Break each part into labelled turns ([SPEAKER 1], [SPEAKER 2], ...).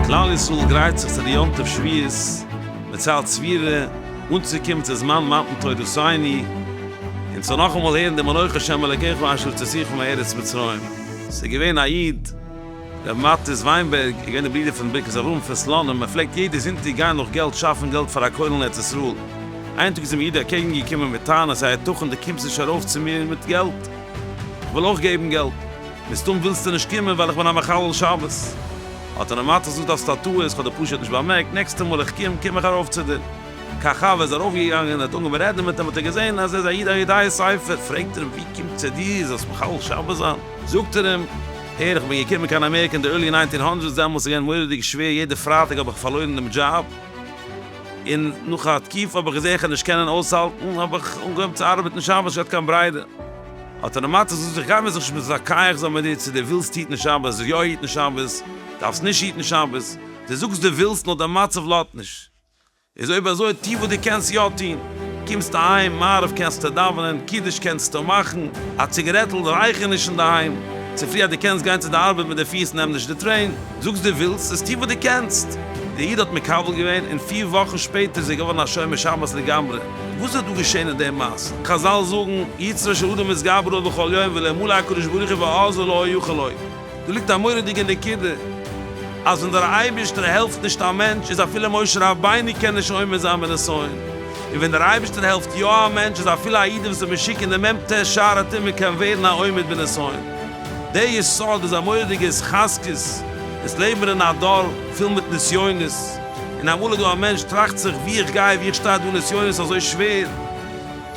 [SPEAKER 1] כלל ישראל גרייט זיך צו די יום טוב שבועות, מען ציילט ספירה, אנצוקומען צו זמן מתן תורתינו, און צו נאכאמאל הערן דעם אנכי השם אלקיך אשר הוצאתיך מארץ מצרים. ס'איז געווען א איד. רבי מאטיס וויינבערג איז געווען דער ברודער פון ברכת אברהם פון סלאנים, ער פלעגט יעדער זונטאג גיין נאך געלט שאפן געלט פאר א כולל אין ארץ ישראל. איין טאג איז אים א איד אקעגן געקומען מיט טענות, היי יתכן דו קומסט נישט ארויף צו מיר מיט געלט? איך וויל אויך געבן געלט. מסתם ווילסטו נישט קומען ווייל איך בין א מחלל שבת. האט אים רבי מאטיס געזאגט האסט א טעות, איך האב דיר פשוט נישט באמערקט, נעקסטע מאל איך קום, קום איך ארויף צו דיר. קיין ח ו איז ער ארויף געגאנגען, ער האט אנגעהויבן רעדן מיט אים האט ער געזען אז ער איז א איד א יודעי ספר, פרעגט ער אים ווי קומט צו דיר זאלסט מחלל שבת זיין? זאגט ער אים, הער איך בין געקומען קיין אמעריקע אין די ערלי ניינטין הונדרעדס דעמאלטס איז געווען מורא'דיג שווער יעדע פרייטאג האב איך פארלוירן דעם דזשאב און נאך א תקופה האב איך געזעהן איך וועל נישט קענען אויסהאלטן האב איך אנגעהויבן צו ארבעטן שבת נישט געהאט קיין ברירה האט ער נארמאל צו זאגט איך גיי מיר זיך נישט מיט דיין קייעך זאג מיר דו צו דו ווילסט היטן שבת זאג יא היטן שבת דארפסט נישט היטן שבת דו זאגסט דו ווילסט נאר די מצב לאזט נישט. איז אויב אזוי טוה וואס דו קענסט יא טוהן, קומסט אהיים מעריב קענסטו דאווענען, קידוש קענסטו מאכן, א ציגערעטל רויך איך נישט אינדערהיים, צופרי אז דו קענסט גיין צו די ארבעט מיט די פיס נעם נישט די טרעין, זאגסט דו ווילסט עס טוה וואס דו קענסט. דער איד האט מקבל געווען און פיר וואכן שפעטער איז ער געווארן א שומר שבת לגמרי, וואס איז דא געשעהן אין דעם מעשה? חזל זאגן, יצרו של אדם התגברו בכל יום ולעמל הקדוש ברוך הוא ועזר לו או יוכל לו. דא ליגט א מורא'דיגע נקודה, אז ווען דער אייבערשטער העלפט נישט א מענטש איז אפילו משה רבינו קען נישט עומד זיין מן האסון, און ווען דער אייבערשטער העלפט יא א מענטש איז אפילו א איד וואס איז משוקע אין די מ ט שער הטומאה קען ווערן א עומד מן האסון. דער יסוד איז א מורא'דיגע התחזקות, אונז לעבן אין א דור פול מיט נסיונות, און אמאל איז דא א מענטש טראכט זיך ווי איך גיי ווי איך שטיי דא נסיונות אזוי שווער,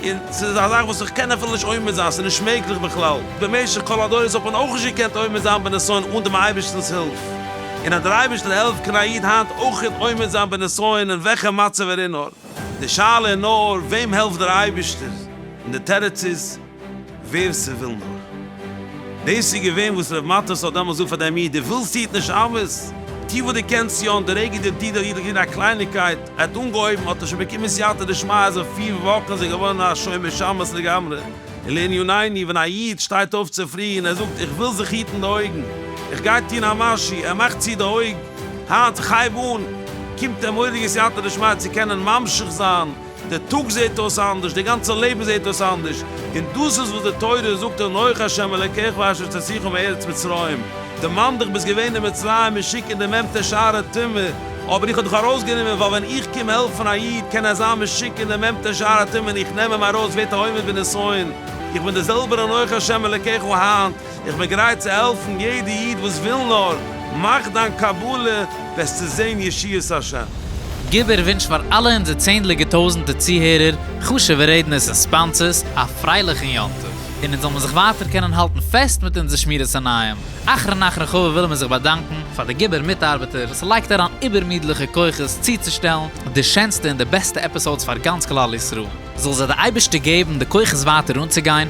[SPEAKER 1] און ס'איז א זאך וואס איך קען אפילו נישט עומד זיין, ס'איז נישט מעגליך בכלל, במשך כל הדורות האט מען אויך נישט געקענט עומד זיין בנסיון אן דעם אייבערשטנ'ס הילף, און אז דער אייבערשטער העלפט קען א איד היינט אויך עומד זיין בנסיון אין וועלכע מצב ער איז נאר, די שאלה איז נאר וועם העלפט דער אייבערשטער, און די תירוץ איז. ווער ס'וויל נאר. דאס איז געווען וואס ר' מטות האט דעמאלס געזאגט פאר דעם איד, דו ווילסט טו נישט אמת, טו וואס דו קענסט יא, און די רגע דער איד האט געטון א קלייניקייט, ער האט אנגעהויבן, האט ער שוין באקומען סייעתא דשמיא, אז אין פיר וואכן איז ער געווארן א שומר שבת לגמרי. און לענינינו, ווען א איד שטייט אויף צופרי און ער זאגט, איך וויל זיך היטן די אויגן, איך גיי טון א משהו, ער מאכט צו די אויג, היינט, איך הייב אן, קומט אים מורא'דיגע סייעתא דשמיא צו קענען ממשיך זיין, דער טאג זעט אויס אנדערש, דער גאנצער לעבן זעט אויס אנדערש, און דאס איז וואס די תורה זאגט אנוכי השם אלקיך ואשר תוציאך מארץ מצרים, דערמאן דיך ביסט געווען אין מצרים משוק אין די מעמטער שער הטומאה, אבער איך האב דיך ארויסגענומען, ווייל ווען איך קום העלפן א איד קען ער זיין משוק אין די מעמטער שער הטומאה און איך נעם אים ארויס ווערט ער עומד בנסיון, איך בין דער זעלבער אנוכי השם אלקיך וואו היינט. איך בין גרייט צו העלפן יעדע איד וואס וויל נאר, מאך דיין קבלה וועסטו זען ישועת השם. גיב איר ווינטש
[SPEAKER 2] פאר אלע אונזער צענדליגע טויזענטע צוהערער, חשובע רעדנערס און ספאנסערס א פרייליכן יום טוב, און אונז זאל מיר זיך ווייטער קענען האלטן פעסט מיט אונזער שמירת עיניים. אחרון אחרון חביב ווילן מיר זיך באדאנקן פאר די גיבור מיטארבעטער וואס לייגט אריין איבערמידליכע כוחות צוצושטעלן די שענסטע און די בעסטע עפיסאודס פאר גאנץ כלל ישראל, זאל זיי די אייבערשטער געבן די כוחות ווייטער אנצוגיין,